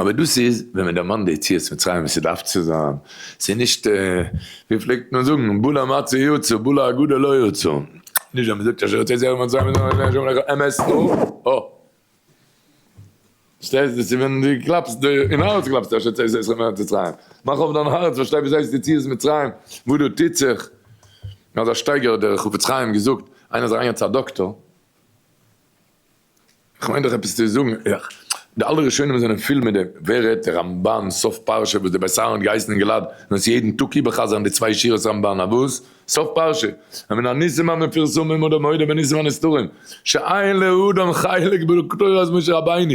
אבער דאס איז ווען מען דערמאנט די יציאת מצרים ווי ס'דארף צו זיין, ס'איז נישט ווי פלעגט מען זאגן בלע מצה יצא בלע הגדה לא יצא, נישט ווען מען זאגט אשר יצאת יצאת מצרים איז נאר השם אלקיך אמת הו ה, פארשטייסט דאס איז ווען דו קלאפסט די אין הארץ קלאפסטו אשר יצאת יצאת יצאת מארץ מצרים, מאך אויף דיין הארץ פארשטיי וואס הייסט יציאת מצרים וואס דא טוט זיך, אזא שטייגער האט דער חפץ חיים געזאגט, איינער איז אריינגעגאנגען צו א דאקטאר, כ'מיין דאך עפעס צו זאגן אייך, די אלע ראשונים זענען פול מיט דעם, ווער רעדט די רמבן סוף פרשה וואס די בית אהרן האט געהייסן אין גלעד זאלן עס יעדן טאג איבערחזר'ן די צוויי שורות רמבן א וואס? סוף פרשה ומן הניסים המפורסמים אדער מודה בניסים הנסתרים שאין לאדם חלק בתורת משה רבינו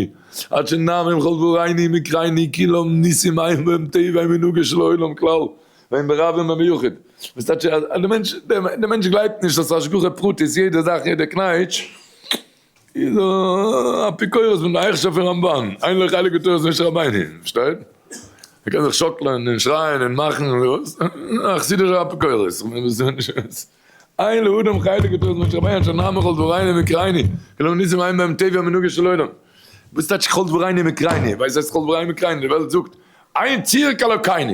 עד שנאמר עם חלבו ראיני מקראיני כאילו ניסים היו בהם טבעי מנהגו של העולם כלל ואין ברבים במיוחד, וואס טייטש אז די מענטש די מענטש גלייבט נישט אז השגחה פרטית יעדע זאך יעדע קנייטש איז א אפיקורס פון די הייכשע פון רמבן, אין לו חלק בתורת משה רבינו, פארשטייט? ער קען זיך שאקלען און שרייען און מאכן וואס? א חסידישע אפיקורס, אין לאדם חלק בתורת משה רבינו אשר נאמר כל דברינו מקראינו כלומר ניסים אין בהם טבע מנהגו של עולם, וואס טייטש כל דברינו מקראינו? ווער זעצט כל דברינו מקראינו? די וועלט זאגט אין צירק אלוקינו.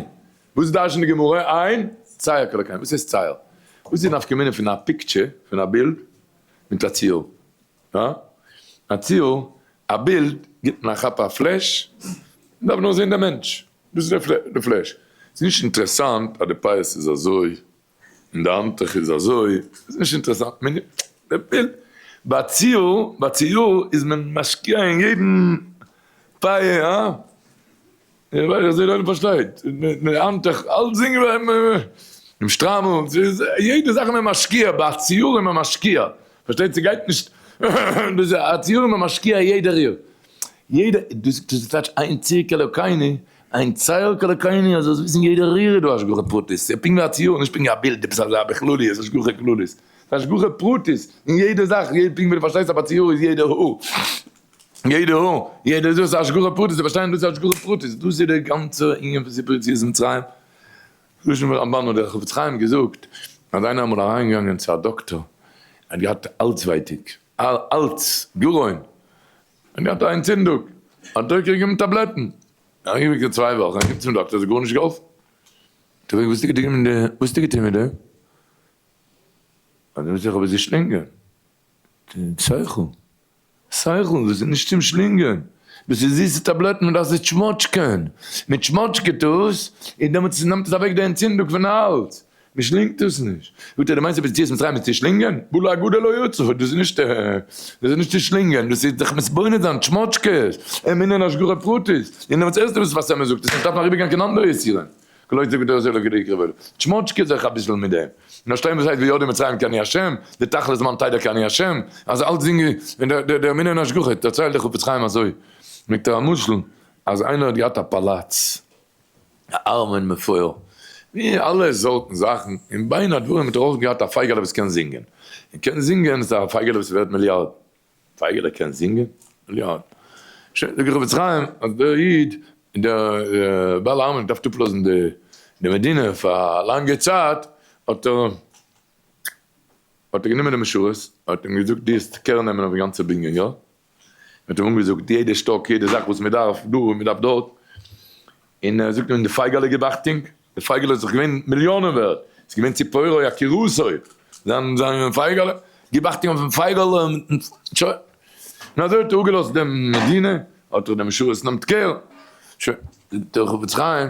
וואס דרש'נט די גמרא עיין צייר כל הקיים? וואס הייסט צייר? וואס איז די נפקא מינה פון א פיקטשער, פון א בילד, מיט א ציור? הא? א ציור, א בילד גיבט מען א כאפ א פלעש, מען דארף נאר זען דעם מענטש, דאס איז די פלעש. ס'איז נישט אינטערעסאנט אז די פייערס איז אזוי און די האנטוך איז אזוי, ס'איז נישט אינטערעסאנט, מען וויל, ביי ציור, ביי ציור איז מען משקיע אין יעדן פיי, הא? איך זע קיינער פארשטייט, די האנטוך, אלסדינג ווערט מען, דעם שטריימל, ס'איז יעדע זאך איז מען משקיע, ביי א ציור איז מען משקיע, פארשטייט זיך גייט נישט, ביז א ציור איז מען משקיע יעדע ריר, יעדע, דאס איז טייטש איין צירקעלע קייני, איין צער קאלעקאיני אז עס וויסן יעדע רירער דו השגחה פרטית, ס'איז פונקט ווי א ציור נישט פונקט ווי א בילד עפעס אזא בכלליות השגחה כללית, ס'איז השגחה פרטית אין יעדע זאך יעדע פונקט ווי דו פארשטייסט אז ביי ציור איז יעדע האר יעדע האר יעדע זאך איז השגחה פרטית צו פארשטיין דאס איז השגחה פרטית דאס איז די גאנצע ענין פון סיפור יציאת מצרים לשם הרמבן האט דער חפץ חיים געזאגט אז איינער אמאל אריין געגאנגען צו א דאקטאר ער האט געהאט האלז ווייטיג אלץ גרון. ער האט געהאט א אנטצינדוג, האט דוקא געגעבן טאבלעטן, ער איז אריבער געווען צוויי וואכן אהין צום דאקטער, עס האט גארנישט געהאלפן, האט ער געפרעגט וואס האסטו געטון מיט די, וואס האסטו געטון מיט די, האט ער געזאגט איך האב עס געשלינגען, שכל, שכל, דאס איז נישט צום שלינגען, דאס איז זיסע טאבלעטן, מען דארף זיי טשמאטשקען, מען טשמאטשקעט עס, און דעמאלטס נעמט עס אוועק די אנטצינדוג פון האלז, מיר שלינגט דאס נישט. זאגט ער, דו מיינסט אז יציאת מצרים איז צו שלינגען? בלע א גדול לא יצא, דאס איז נישט דאס איז נישט צו שלינגען, דאס איז זיך מתבונן זיין, טשמאטשקעס, אמונה און השגחה פרטית, און דעמאלטס הערסטו וואס וואס עמער זאגט, עס נישט דארפן אריבערגיין קיין אנדערע יסורים, כלא יצא גדול אזוי לא גדול יקרא בעלו, טשמאטשקע זיך אביסל מיט דעם, און פארשטיין וואס הייסט וידעו מצרים כי אני השם, די תכלית זמן תדע כי אני השם, אז אלץ זינגען ווען די די אמונה און השגחה, דערציילט דער חפץ חיים אזוי מיט א משל, אז איינער האט געהאט א פאלאץ. א ארמען מפואר, ווי אלע סארטן זאכן, און בין הדברים האט ער אויך געהאט א פייגעלע וואס קען זינגען, און קען זינגען איז א פייגעלע וואס איז ווערט מיליארדן. פייגעלע קען זינגען? מיליארדן. שוין, זאג איך חפץ חיים אז דער איד, דער בעל הארמאן האט געדארפט אפלאזן די מדינה פאר א לאנגע צייט, האט ער האט ער גענומען די משרת, האט אים געזאגט דו האסט קער נעמען אויף די גאנצע בנין, יא? מען האט אים אנגעזאגט יעדע שטאק, יעדע זאך וואס מען דארף דא און מען דארף דארט, און ער זאגט אים די פייגעלע גיב אכטונג, די פייגעלע איז דאך געווען מיליאנען ווערט, ס'איז געווען צו פרעה א קירוסוי, זיין זיין פייגעלע, גיב אכטונג אויפן פייגעלע, שוין, און אזוי האט ער אפגעלאזט דעם מדינה, האט ער דעם משרת נאמט קער, שוין, זאגט דער חפץ חיים.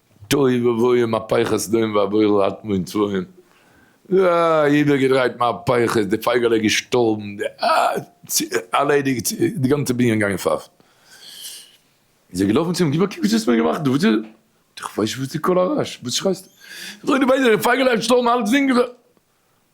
תוהו ובוהו מהפכות סדום ועבורה אטמו און צבועים, אה, איבערגעדרייט מהפכות, די פייגעלע איז געשטארבן, די אה, ערלעדיגט, די גאנצע בנין געגאנגען פארט. איז ער געלאפן צו אים, גיב א קוק וואס דו האסט מיר געמאכט דא, וואס איז דאס? איך ווייס נישט וואס די קול הרעש, וואס שרייסטו? איך זאג דיר ביידע, די פייגעלע איז געשטארבן, אלץ זינגען זיי.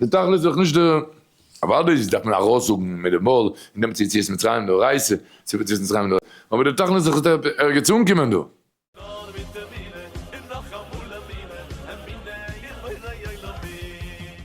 די תכלית איז דאך נישט די. אוודאי דארף מען ארויסזאגן מיט די מויל אין דעם צו יציאת מצרים דאורייתא, צו יציאת מצרים מדאורייתא, אבער די תכלית איז דאך עס זאל ערגעץ אנקומען דא. נאר מיט אמונה און נאכאמאל אמונה, אמונה אין בורא עולמים.